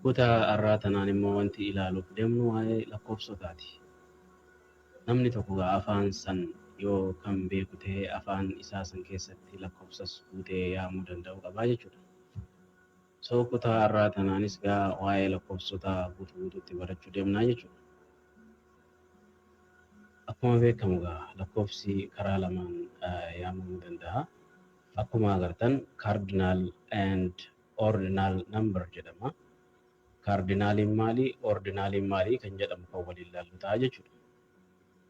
Kutaa arraa tanaan immoo wanti ilaaluuf demnu waa'ee lakkoofsotaati. Namni tokko gaa afaan san yoo kan beeku ta'e afaan isaa san keessatti lakkoofsas guutee yaamuu danda'uu qabaa jechuudha. So kutaa arraa tanaanis gaa waa'ee lakkoofsotaa guutu guututti barachuu demnaa jechuudha. Akkuma beekamu gaa lakkoofsi karaa lamaan yaamamuu danda'a. Akkuma agartan cardinal and ordinal number jedhama. Kaardinaaliin maali? Ordinaaliin maali? Kan jedhamu kan waliin ilaallu ta'a jechuudha.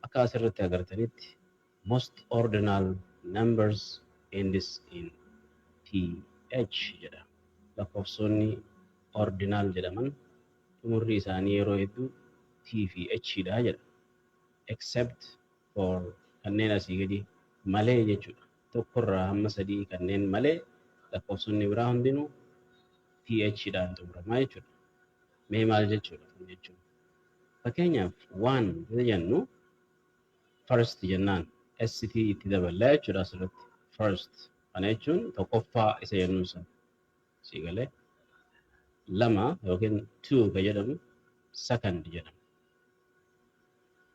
Akka asirratti agartanitti most ordinal numbers ends in th jedha. Lakkoofsonni ordinaal jedhaman xumurri isaanii yeroo hedduu t fi h dha jedha. Except for kanneen asii gadi malee jechuudha. 1 irraa hamma 3 kanneen malee lakkoofsonni biraa hundinuu th dhaan xumuramaa jechuudha. Mee maal jechuudha kun jechuun? Fakkeenyaaf waan yoo jennu first jennaan st itti daballa jechuudha asirratti. First kana jechuun tokkoffaa isa jennuun sana. Sii galee lama yookiin two ka jedhamu second jedhama.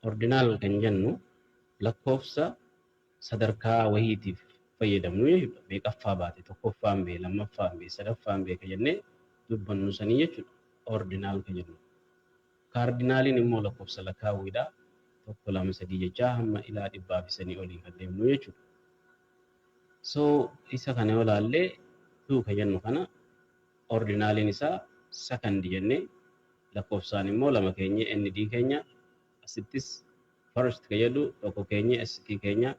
Ordinaal kan jennu lakkoofsa sadarkaa wahiitiif fayyadamnu jechuudha. Meeqaffaa baate, tokkoffaan bee, lammaffaan bee, sadaffaan bee ka jennee dubbannu sanii jechuudha. Ordinaal ka jennu. Kaardinaaliin immoo lakkoofsa lakaawwiidha. Tokko, lama, sadii jechaa hamma ilaa dhibbaa fi sanii olii kan deemnu jechuudha. So isa kana yoo laallee tuu ka jennu kana ordinaaliin isaa sakandi jennee lakkoofsaan immoo lama keenyee ND keenya Asittis first ka jedhu tokko keenya SQ keenya,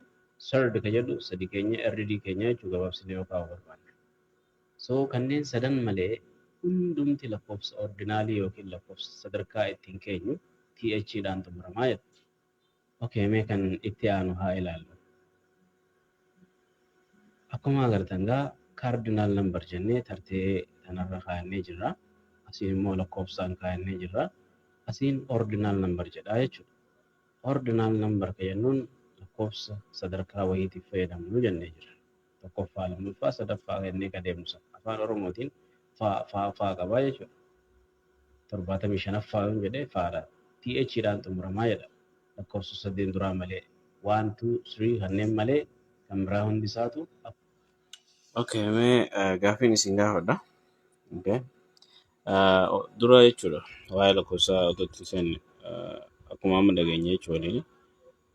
third ka jedhu sadi keenya RD keenya jechuu gabaabsinee yoo kaa'uu barbaanne. So kanneen sadan malee hundumti lakkoofsa ordinaalii yookiin lakkoofsa sadarkaa ittiin keenyu TH dhaan xumurama jechuudha. Okay mee kan itti aanu haa ilaallu. Akkuma agartan egaa cardinal number jennee tartee tanarra kaayannee jirra. Asiin immoo lakkoofsaan kaayannee jirra. Asiin ordinal number jedha jechuudha. Ordinal number ka jennuun lakkoofsa sadarkaa wayiitiif fayyadamnu jennee jirra. Tokkoffaa, lammaffaa, sadaffaa jennee ka deemnu sana. Afaan Oromootiin faa faa faa qaba jechuudha. torbaatamii shanaffaa yoon jedhe faadha. TH dhaan xumuramaa jedha. Lakkoofsa saddeen duraa malee. One, two, three kanneen malee kan biraa hundi isaatu akkuma. Okay, mee eh, gaaffiin isin gaafadha. Okay. Eh, o- Dura jechuudha waa'ee lakkoofsaa otoo itti hin seenne eh, akkuma amma dhageenye jechuu waliin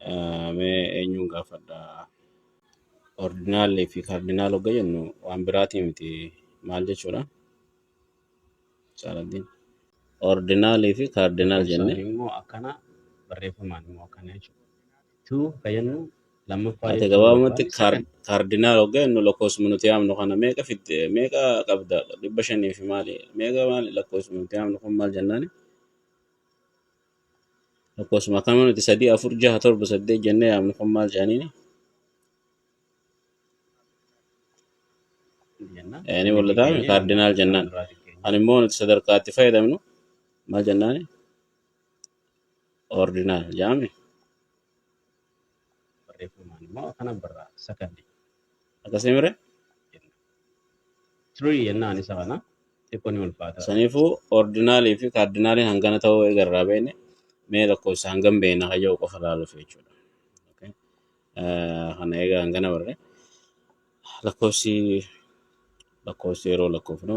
eh, mee eenyuun gaafadha? Ordinaalii fi kaardinaal hogga jennu waan biraatii miti maal jechuudha? Caaladdiin. Ordinaalii fi kaardinaal Ibsa jenne. immoo akkana barreeffamaan immoo akkana jechuudha. Tuu kan jennu lammaffaa Ati jechuun gabaabumatti barbaade kaar- second. kaardinaal hoggaa jennu lakkoofsuma nuti yaamnu kana meeqa fidde meeqa qabda dhibba shanii fi maali meeqa maali lakkoofsuma nuti yaamnu kun maal jennaani lakkoofsuma akkama nuti sadii afur jaha torba saddeet jennee yaamnu kun maal jedhaniini ni mul'ata kaardinaal jennaan ani immoo nuti sadarkaa itti fayyadamnu maal jennaan ordinaal jaami akkasii mire saniifuu ordinaalii fi kaardinaaliin hangana ta'uu eegarraa beekne mee lakkoofsa hangam beekna hayya'u qofa ilaaluuf jechuudha. Okay. Eh, Kana egaa hangana barre. Lakkoofsi lakkoofsi yeroo lakkoofnu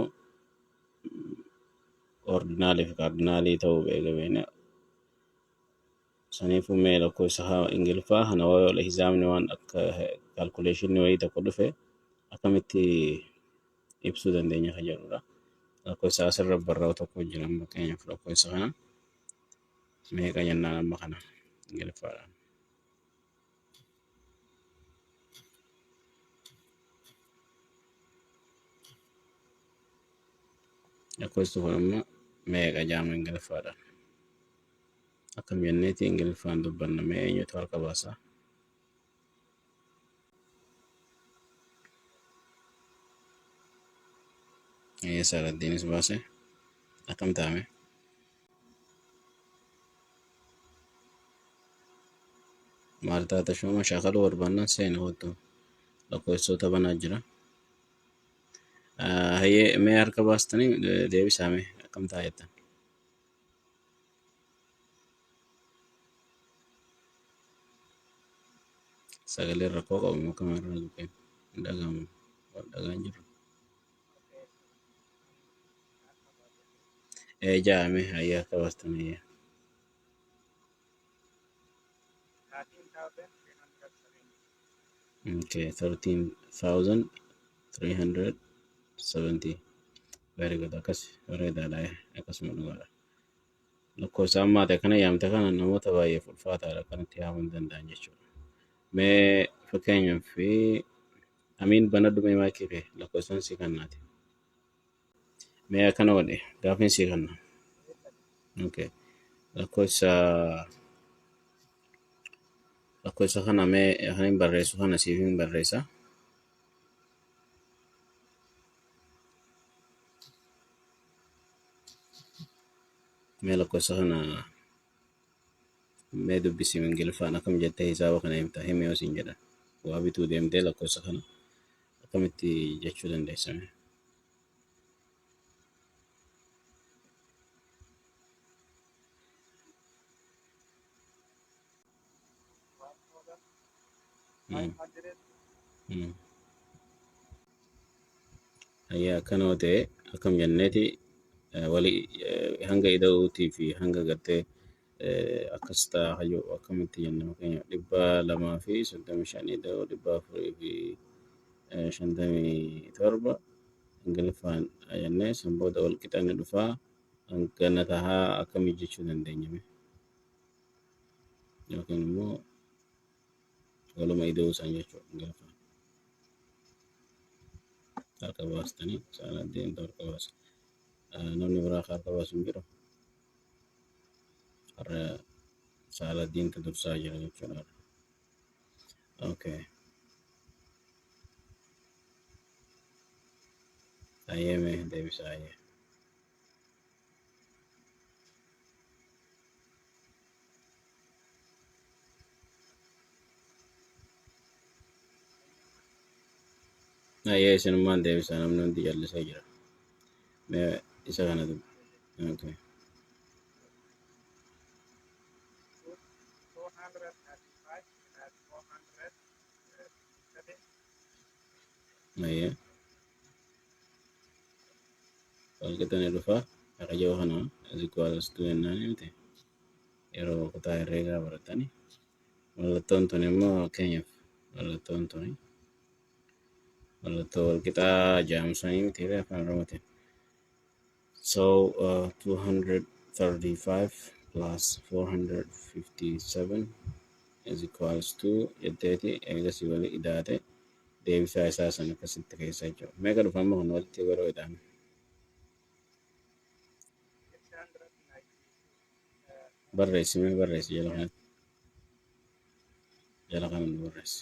ordinaalii fi kaardinaalii ta'uu eega beekna. Saniifuu mee lakkoofsa haa ingiliffaa kana wal hisaabni waan akka kaalkuleeshinii wayii tokko dhufe akkamitti ibsuu dandeenya kan jedhudha. Lakkoofsa asirra barraa'u tokko jira amma fakkeenyaaf lakkoofsa kana meeqa jennaan amma kana ingiliffaadhaan. lakkoofsi kun amma meeqa jaama ingiliffaadha akkam jenneeti ingiliffaan dubbanna mee eenyutu harka baasa eessa raddiinis baase akkam taame maal taata shooma shaakala barbaannaan seena hoottu lakkoofsoota banaa jira. Ah, Hayyee mee harka baastanii eh, deebisaa mee akkam ta'a jettan. Sagaleen rakkoo qabu moo akkam irraa hin dhagahamu? Wal dhagaan jiru. ee jaame hayyaa kabaastamee okay 13370 very good akkas bareedaadha akkasuma dhugaadha lakkoofsa ammaa ta'e kana yaamte kana namoota baay'eef ulfaataadha kan itti yaamuu hin danda'an jechuudha mee fakkeenyaaf Amiin banadhu mee maayikii kee lakkoofsaan sii kannaati. Mee akkana godhe gaafiin sii kanna. Okay. Lakkoofsa lakkoofsa kana mee kan hin barreessu kana siif hin barreessa. Mee lakkoofsa kana Mee dubbisi Ingiliffaan akkam jettee hisaaba kana himta himi yoo siin jedhan waa bituu deemtee lakkoofsa kana akkamitti jechuu dandeessa mee? Ayyaa akkana yoo ta'e akkam jenneeti wali hanga ida'uutii fi hanga gartee akkas ta'a hayyuu akkamitti jenna fakkeenya dhibba lamaa fi soddomii shan ida'uu dhibba afurii fi shantamii torba ingiliffaan jennee san booda wal qixanni dhufaa hangana tahaa akkamii jechuu dandeenyame. yookiin immoo waluma ida'uu isaan jechuudha gaafa harka baastanii isaan addeentu harka baasa. Namni biraa harka baasu hin jiru. Har'a saala diintu dursaa jira jechuudha. Okay. Ayyee mee deebisaa ayyee. Ayyee isinummaan deebisaa namni hundi jallisee jira. Mee isa kana dubbi. Okay. Ayyee. Salqixan irrufa araja kana is equal as to jennaan miti yeroo kutaa herreegaa baratani mallattoon tun immoo fakkeenyaaf mallattoon tuni mallattoo walqixaa jaamsanii miti afaan oromootiin So uh, 235 plus 457 is equals to jetteeti eegasii walii idaate deebisaa isaa san akkasitti keessa jechuudha. Meeqa dhufa amma kun walitti yeroo ida'amu? Barreessi mee barreessi jala kana jala kana nu barreessi.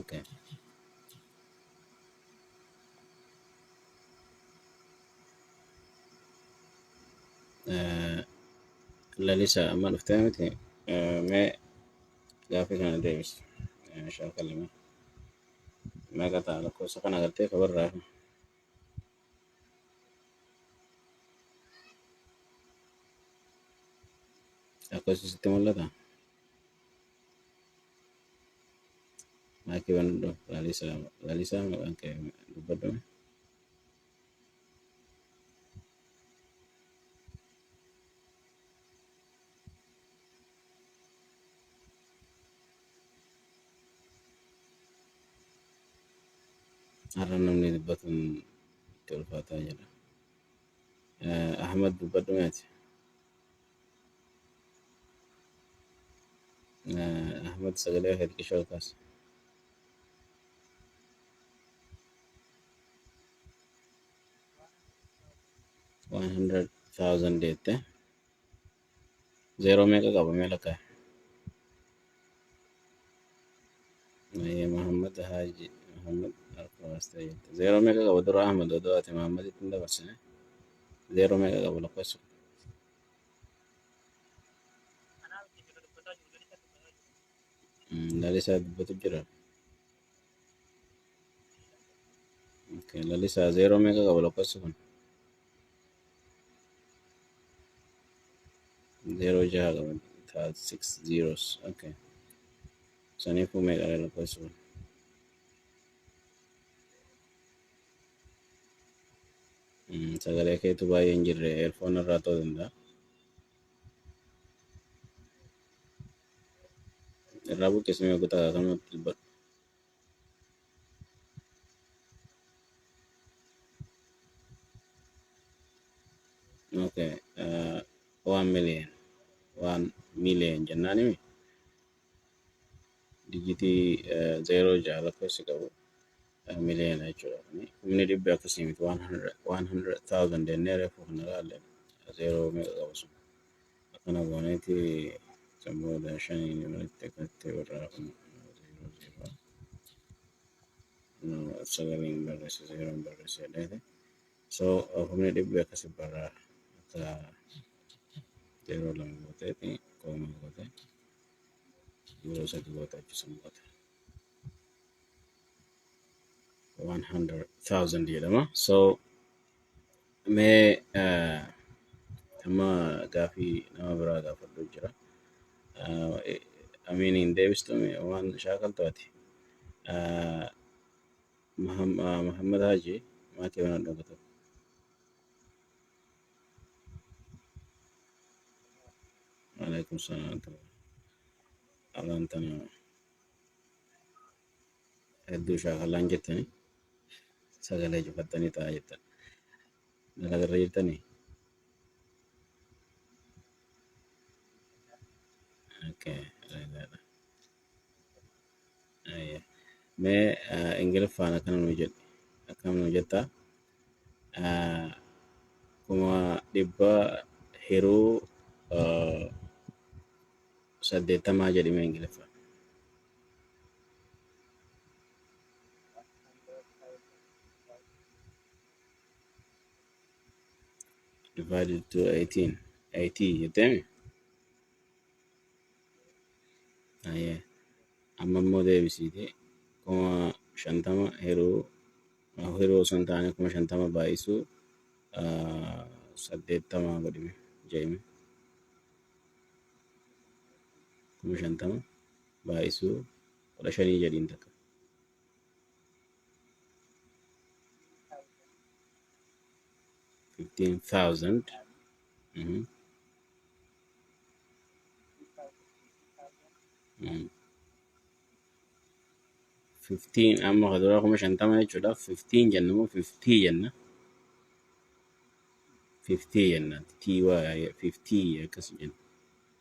Okay. Eh, Lalisa amma dhuftee miti Eh, mee gaaffii kana deebisi Eh, shaakallime meeqa ta'a lakkoofsa kana agartee kabarraa Lakkoofsi sitti mul'ata? Maakii banadhu. Laalisaa Laalisaa maqaan kee dubbadhu. Har'a namni dubbatuun itti ulfaataa jira. Ahmad dubbadhu meeti. Ahmad sagalee kee xiqqishoo ol kaasi. Waan hundred thousand jette. Zeeroo meeqa qaba mee lakkaa'e? Ayyee Mahammad Haaji Mahammad Arfaas ta'e jette. Zeeroo meeqa qaba dura Ahmad odoo ati Mahammaditti hin dabarsine? Zeeroo meeqa qaba lakkoofsi kun? Mm, Lalisaa dubbatu jira. Lalisaa zeeroo meeqa qaba lakkoofsi kun? Zeeroo jaha qaba. It has six zeros. Okay. Saniifuu meeqa dha lakkoofsi kun? Mm, Sagalee keetu baay'ee hin jirre eerfoon irraa ta'uu danda'a. Irraa buqqisi mee kutaa kanatti dubbadhu. Okay, uh, one million. One million jennaan himi. Dijitii uh, zeeroo ja'a lakkoofsi qabu uh, miliyoona jechuudha. Kuni humni dhibbi akkasii miti. One hundred thousand jennee reefu kana ilaalle. Zeeroo meeqa qabu sun? Akkana gooneeti san booda shaniin walitti qatte irraa kun zeeroo zeeroo sagaliin barreesse zeeroon barreesse jedheeti. So humni dhibbi akkasi barraa akka zeeroo lama gooteeti koomaa goote yeroo sadi goote achi san booda. 100,000 jedhama. So Mee eh, amma gaafii nama biraa gaafadhu jira. Ah, eh, Amiin hin deebistu mee waan shaakaltu ati. Ah, Maham- ah, Muhammad Haji maakii waan dhooga tokko. Waalaikum salaam. Alaan tanaa. hedduu shaakallaan jettanii sagalee cufattanii taa'aa jettan. Dalagarra jirtanii? Okay, dalagadha. Ayya. Mee ah, Ingiliffaan akkana nuu jedhi. Akkam nuu jettaa? Ah, Kuma dhibba hiruu ah, saddeettamaa jedhime Ingiliffaan. divided to 18 80 jettemi ayee amma immoo deebisiiti kuma shantama hiruu hiruu osoo hin taane kuma shantama baay'isuu ah, saddeettama godhime jeemi kuma shantama baay'isuu kudha shanii jedhiin takka. fifteen thousand fifteen amma ka duraa kuma shantama jechuudha fifteen jenna moo fiftii jenna fiftii jenna tii waa fiftii akkas jenna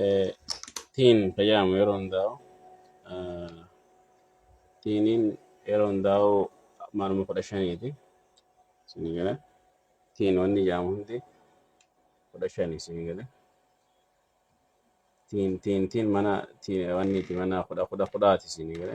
eh, tiin fayyadamu yeroo hundaa'u eh, tiiniin yeroo hundaa'u maaluma kudha shaniiti isinii gala tiin wanni jedhamu hundi kudha shani isinii gala tiin tiin tiin mana tiin wanniiti mana kudha kudha kudhaati isinii gala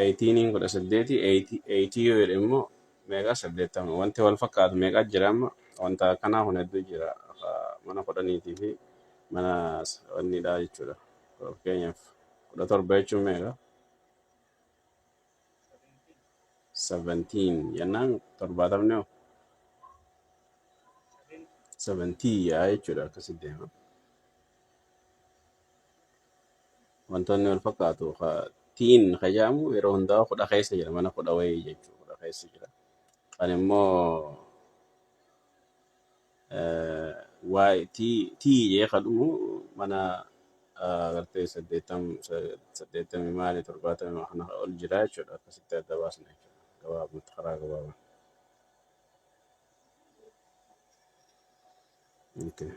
Eeyitiiniin kudha saddeeti eeyitii yoo jedhe immoo meeqa saddeettama wanti wal fakkaatu meeqa jira amma wanta akkanaa kun hedduu jira mana kudhaniitii fi mana wanniidhaa jechuudha fakkeenyaaf kudha torba jechuun meeqa seventiin jennaan torbaatamni hoo seventii yaa jechuudha akkasi deema Wantoonni wal fakkaatu ka tiin ka jedhamu yeroo hundaa kudha keessa jira mana kudha wayii jechuu kudha keessa jira. Kan immoo eh, waay tii tii jee ka dhumu mana ah, agartee saddeettam sa- saddeettamii maali torbaatamii kana ol jira jechuudha akkasitti adda baasna jechuudha gabaabumatti karaa gabaabaa. Okay.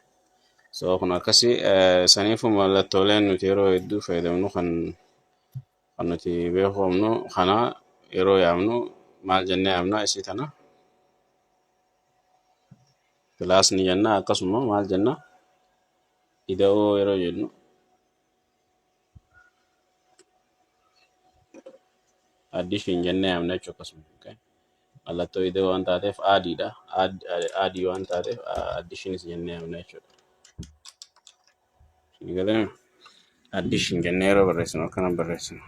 So kun akkasi eh, saniifu mallattooleen nuti yeroo hedduu fayyadamnu kan kan nuti beeku qabnu kana yeroo yaamnu maal jennee yaamna isii tana kilaas ni jenna akkasuma maal jenna ida'oo yeroo jennu Addii ishiin jennee yaamna jechuudha akkasuma. Okay. Mallattoo idee waan taateef aadiidha. Aad- aad- Aadii waan taateef addii ishiinis jennee yaamna jechuudha. Isin galee addii ishiin jennee yeroo barreessinu akkana barreessinu.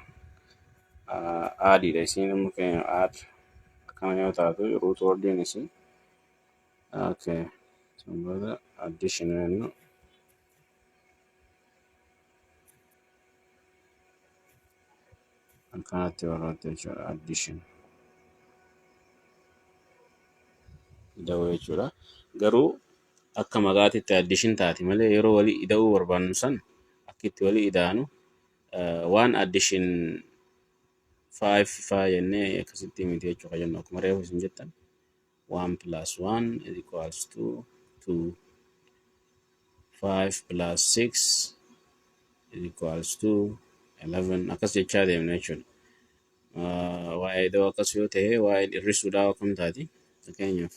Ah, Aadiidha isiin immoo fakkeenyaaf aad akkana yoo taatu ruut wordiin isii. Okay. Sun booda addii ishiin jennu. Akkanatti barbaadde jechuudha addition. Ida'uu jechuudha. Garuu akka maqaatitti addition taati malee yeroo walii ida'uu barbaannu san akka itti walii ida'anu waan addition five faa jennee akkasitti miti jechuudha jennu akkuma reefu isin jettan. 1 plus 1 is equals to 2 5 plus 6 is equals to 11 akkas jechaa deemna jechuudha. Ah, Waa'ee idoo akkas yoo ta'e waa'een hir'isuudhaa akkam taati? Fakkeenyaaf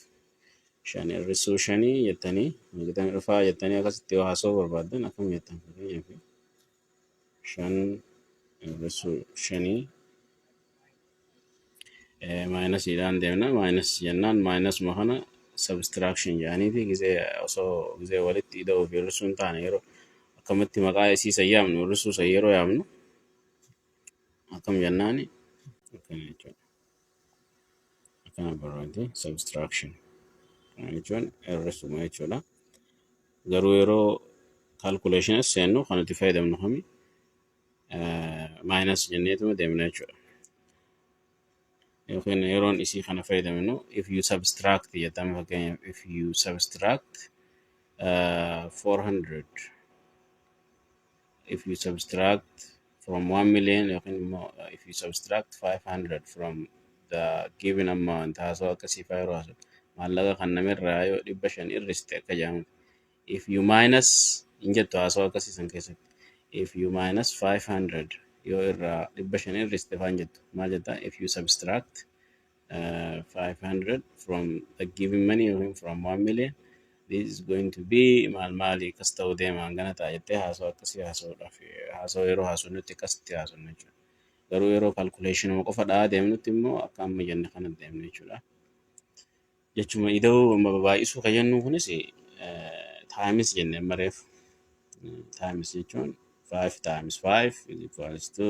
shan hir'isuu shanii jettanii gitan dhufaa jettanii akkasitti yoo haasa'uu barbaaddan akkam jettan? Fakkeenyaaf shan inversuu shanii maayinasiidhaan deemna maayinas jennaan maayinasuma kana subtraction jedhaniiti gizee osoo gizee walitti ida'uu fi hir'isuu hin taane yeroo akkamitti maqaa isii san yaamnu hir'isuu san yeroo yaamnu akkam jennaani akkana jechuudha. Kana barbaadde subtraction. Kana jechuun hir'isuma jechuudha. Garuu yeroo calculation seennu kan itti fayyadamnu kami minus jenneetuma deemna jechuudha. Yookiin yeroon isii kana fayyadamnu if you subtract jedhama fakkeenyaaf if you subtract uh, 400 if you subtract from 1 million yookiin immoo uh, if you subtract 500 from the given amount haasoo akkasii faa yeroo haasoo maallaqa kan namirraa yoo dhibba shan irriste akka jedhamu if you minus hin jettu haasoo akkasii san keessatti if you minus 500 yoo irraa dhibba shan irriste faa hin jettu maal jetta if you subtract uh, 500 from the giving money yookiin from 1 million this is going to be maal maali akkas ta'uu deema hangana ta'a jettee haasoo akkasii haasa'uudhaaf haasoo yeroo haasofnutti akkasitti haasofna jechuudha. Garuu yeroo calculationuma qofa dha'aa deemnutti immoo akka amma jenne kana deemna jechuudha. Jechuma ida'uu amma baay'isuu kan jennu kunis times jenne amma reef times jechuun 5 times 5 is equals to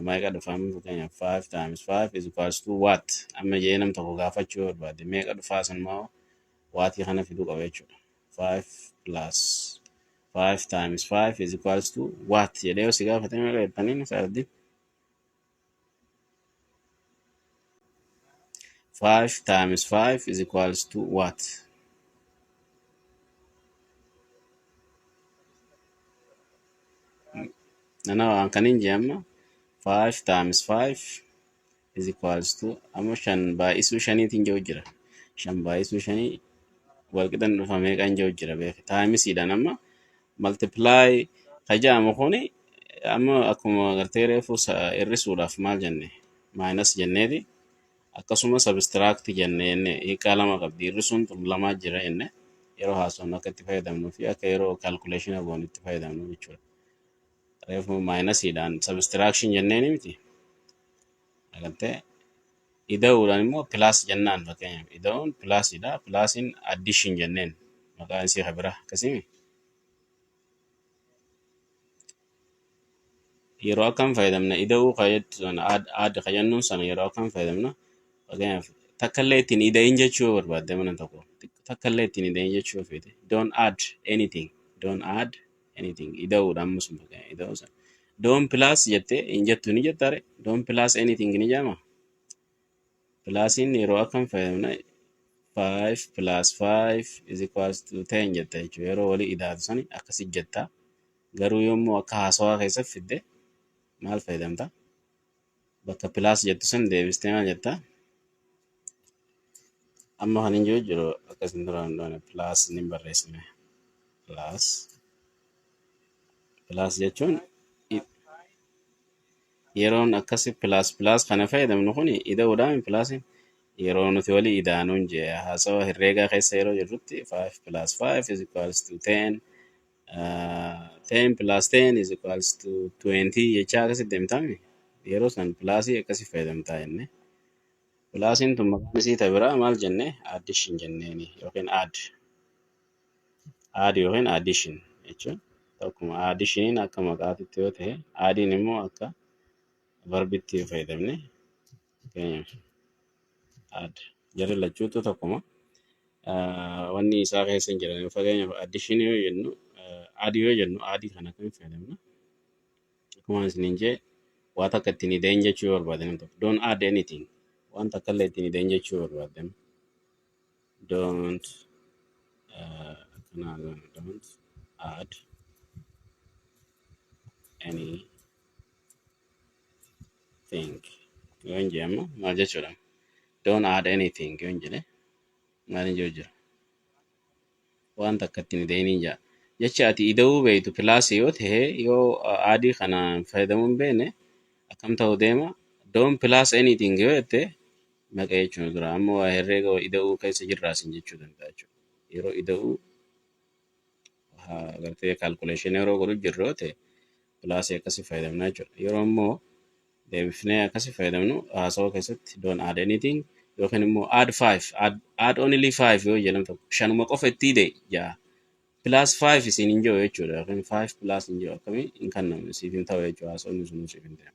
Meeqa dhufa amma fakkeenyaaf 5 times 5 is equals to what? Amma jedhee nam tokko gaafachuu yoo barbaade meeqa dhufaa san moo waatii kana fiduu qaba jechuudha. 5 plus 5 times 5 is equals to what? jedhee yoo si gaafate meeqa jettaniin isaa wajjin 5 times 5 is equals to what? Nana waan kan hin jee amma 5 times 5 is equals to amma shan baay'isuu shaniitiin jiru jira. Shan baay'isuu shanii walqixan dhufa meeqan jiru jira beeku. Taayimisiidhaan amma multiply ka jedhamu kuni amma akkuma gartee reefu sa- hir'isuudhaaf maal jenne maayinas jenneeti akkasuma subtract jenne jenne hiikaa lama qabdi hir'isuun tun lamaa jira jenne yeroo haasofnu akka itti fayyadamnuu fi akka yeroo calculation goonu itti fayyadamnu jechuudha. Reefu maayinasiidhaan subtraction jenneeni miti Argattee? Ida'uudhaan immoo pilaas jennaan fakkeenyaaf. Ida'uun pilaasidha. Pilaasiin addiishin jenneen maqaan isii ka biraa akkasimi. Yeroo akkam fayyadamna ida'uu ka jettu sana aad aad ka jennuun sana yeroo akkam fayyadamna fakkeenyaaf takkallee ittiin ida'in jechuu yoo barbaadde mana tokko takkallee ittiin ida'in jechuu yoo feete don't add anything don't add anything ida'uudha amma sun bakka ida'uu san doon pilaas jettee hin jettu ni jettaare doon pilaas anything ni jaama pilaasiin yeroo akkam fayyadamna 5 plus 5 is equals to 10 jetta jechuudha yeroo walii idaatu sani akkasi jetta garuu yommuu akka haasawaa keessatti fidde maal fayyadamta bakka plus jettu san deebistee maal jetta amma kan hin jiru jiru akkas hin duraan doone plus ni barreessine plus plus jechuun i- yeroon akkasi plus plus kana fayyadamnu kun ida'uudhaan hin plusin yeroo nuti walii idaanuun jee haasawa herreegaa keessa yeroo jirrutti 5 plus 5 is equals to 10 Uh, 10 plus 10 is equals to 20 jechaa akkasi deemtame yeroo san pilaasii akkasi fayyadamtaa jenne pilaasiin tun maqaan isii ta biraa maal jenne addition jenneeni yookiin add add yookiin addition jechuun tokkuma additioniin akka maqaatitti yoo ta'e aadiin immoo akka verbitti fayyadamne Fakkeenyaaf add jarri lachuutu tokkuma. Ah, Wanni isaa keessa hin jiran fakkeenyaaf addition yoo jennu ah, add yoo jennu add kan akkamitti fayyadamna? Akkuma isiniin jee waa takka ittiin ideen jechuu yoo barbaade namni tokko don't add anything waan takka illee ittiin ideen jechuu yoo barbaade don't ah, akkanaa gana, don't add any think yoo hin jee amma maal jechuudha don't add anything yoo hin jedhe maal hin jiru jira waan takka ittiin deeniin jaa jecha ati ida'uu beektu pilaasii yoo ta'e yoo aadii kana hin fayyadamuu hin beekne akkam ta'u deema don't plus anything yoo jette maqa jechuun dura amma waa herreega ida'uu keessa jirraasin jechuu danda'a jechuudha yeroo ida'uu ah, gartee calculation yeroo godhu jirru yoo ta'e pilaasii akkasii fayyadamna jechuudha. Yeroo immoo deebifnee akkasii fayyadamnu haasawaa keessatti don't add anything yookiin immoo add five add, add only five yoo jedhamu tokko shanuma qofa itti hidhe ja'a plus five isin hin jiru jechuudha yookiin five plus hin jiru akkamii hin kanname siif hin ta'u jechuudha haasawni sun siif hin ta'u.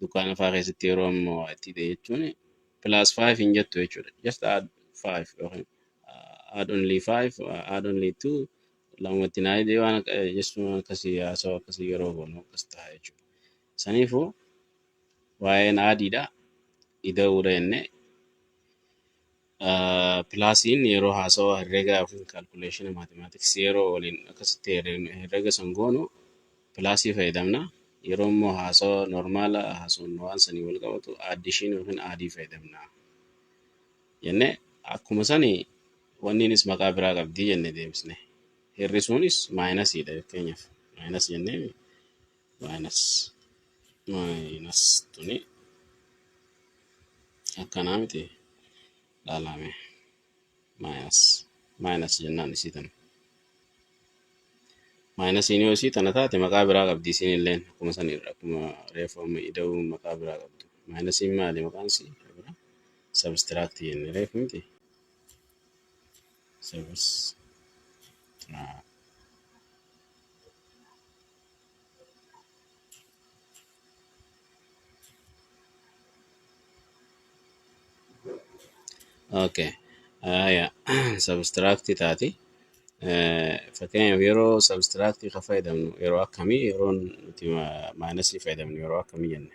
Dukkaana fa'aa keessatti yeroo amma waa itti hidhe jechuun plus 5 hin jettu jechuudha. Just add 5 yookiin uh, add only 5, uh, add only 2 lamatti naa hidhee waan akka- eh, jechuun waan akkasii haasawaa akkasii yeroo goonu akkas ta'a jechuudha. Saniifuu waa'een aadiidha ida'uudha jennee Pilaasiin yeroo haasawa herregaa yookiin kaalkuleeshina maatimaatiksii yeroo waliin akkasitti herrega san goonu pilaasii fayyadamna. Yeroo immoo haasawa normaala haasofnu waan sanii wal qabatu aaddiishiin yookiin aadii fayyadamna. Jenne akkuma sani wanniinis maqaa biraa qabdi jenne deebisne. Hir'isuunis maayinasiidha fakkeenyaaf maayinas jennee minus minus tuni akkanaa miti laalame minus minus jennaan isii tana minus inni yoo isii tana taate maqaa biraa qabdi isiin illeen akkuma san irra akkuma reefu amma ida'uu maqaa biraa qabdu minus inni maali maqaan isii biraa subtract jenne reefu miti subtract Okay. Aya. Substract taati. Eh, Fakkeenyaaf yeroo substract ka fayyadamnu yeroo akkamii yeroo nuti maayinasii fayyadamnu yeroo akkamii jenne.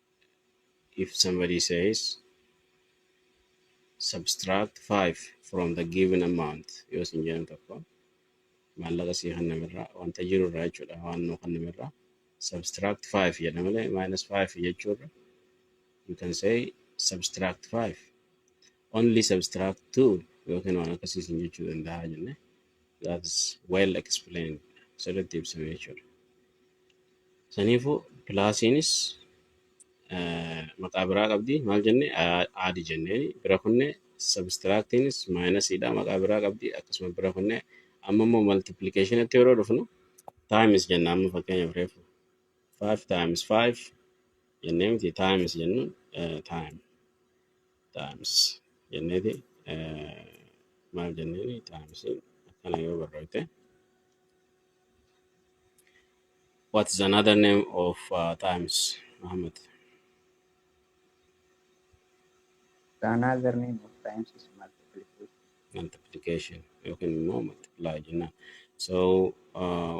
if somebody says subtract 5 from the given amount yoo sin jedhan tokko maallaqa sii kannamerraa wanta jiru irraa jechuudha waan nuu kannamerraa subtract 5 jedha malee minus 5 jechuurra you can say subtract 5 only subtract 2 yookiin waan akkasii sin jechuu danda'a jenne that is well explained sirriitti ibsame jechuudha. Saniifuu pilaasiinis eh, maqaa biraa qabdi maal jenne A- aadi jenneeni bira kunne sabistiraaktiinis maayinasiidha maqaa biraa qabdi akkasuma bira kunne amma immoo maltiplikeeshinitti yeroo dhufnu taayimis jenna amma fakkeenyaaf reefu 5 taayimis 5 jennee miti taayimis jennuun taayim times jenneeti maal jenneeni times akkana yoo barreessite what is another name of uh, times Muhammad The another name of times is multiplication. multiplication yookiin immoo multiply jennaan so uh,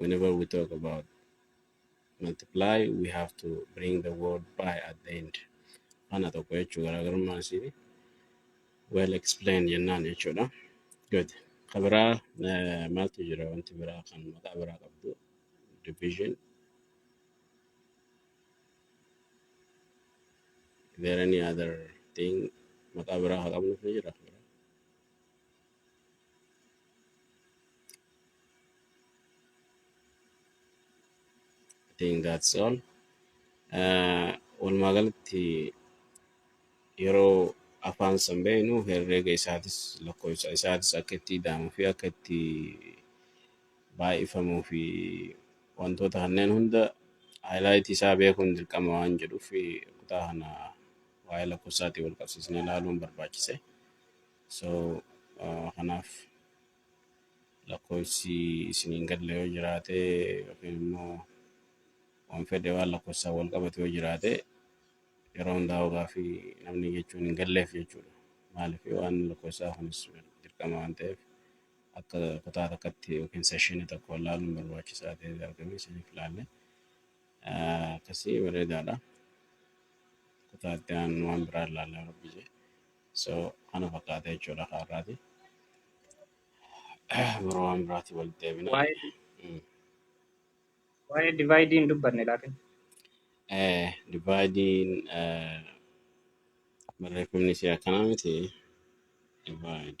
whenever we talk about multiply we have to bring the word by at the end ana tokko jechuu garaagarummaan isii well explained jennaan jechuudha good ka biraa eh, maaltu jira wanti biraa kan maqaa biraa qabdu division is there any other thing maqaa biraa haa qabnuuf ni jira I think that's all. Uh, walumaa galatti yeroo afaan san beeknu herreega isaatis lakkoofsa isaatis akka itti ida'amuu fi akka itti baay'ifamuu fi wantoota kanneen hunda haayilaayitii isaa beekuun dirqama waan jedhuuf kutaa kana waa'ee lakkoofsaatiin wal qabsiisnee ilaaluun barbaachise. So ah, kanaaf lakkoofsi isin hin galle yoo jiraate yookiin immoo waan fedhe waan lakkoofsaan wal qabatu yoo jiraate yeroo hundaa hogaa fi namni jechuun hin galleef jechuudha. Maaliif waan lakkoofsaa kunis dirqama waan ta'eef akka kutaa takkatti yookiin seshinii tokko ilaaluun barbaachisaa ta'ee argame isiniif ilaalle. Ah, Akkasii bareedaadha. Kutaa itti aanu waan biraa ilaalla rabbi jee. So kana fakkaata jechuudha kaarraati. Biroo waan biraati walitti deebina. Waa'ee Mm. waa'ee divaayidii hin dubbanne laakin. Eh, Divaayidiin eh, barreeffamni isaa akkanaa miti. Divaayid.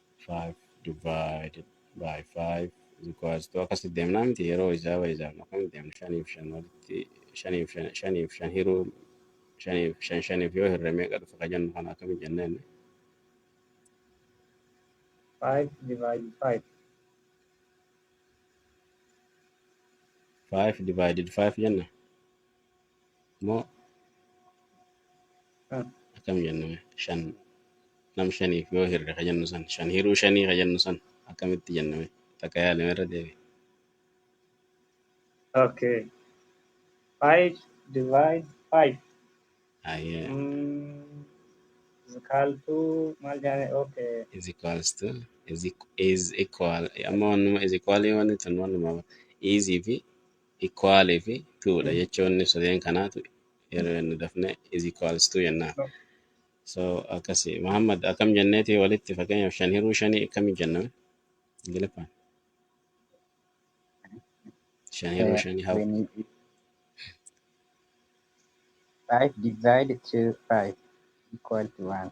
5 divided by 5 is equals to akkas deemnaa miti yeroo isaa fayyadamnu akkam deemna shaniif shan walitti shaniif shan shaniif shan hiruu shaniif shan shaniif yoo hirre meeqa dhufa ka jennu kana akkami jenna inni 5 divided 5. 5 divided 5 jenna Mo akam jenna me shan nam shaniif yoo hirre ka jennu san shan hiruu shanii ka jennu san akkamitti jenna me takka yaalime irra deebi. Okay. Five divide five. Ayyee Mm, is equal to maal jaane? Okay. is equals to is, equ- is equal amma wannuma is equal wanni tun wannuma easy fi equal fi to dha jechoonni sadeen kanaatu yeroo jennu dafne is equals to jennaan. So akkasi Muhammad akkam jenneeti walitti fakkeenyaaf shan hiruu shanii akkami jenna mee? Ingiliffaan shan hiruu Uh, shanii how when you eat five divided to five equal to one.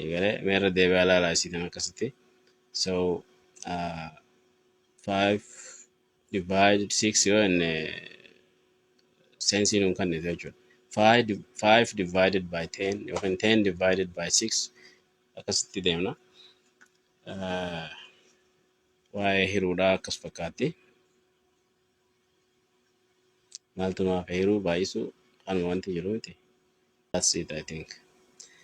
Eegale mee irra deebi'aa ilaalaa isiitan akkasitti. So uh, 5 divided 6 yoo inni seensiin hin kannite jechuudha. 5 di- 5 divided by 10 yookiin 10 divided by 6 akkasitti deemna. Uh, waa'ee hiruudhaa akkas fakkaatti. Maaltu maaf hiruu baay'isuu kanuma wanti jiru miti. That's it I think.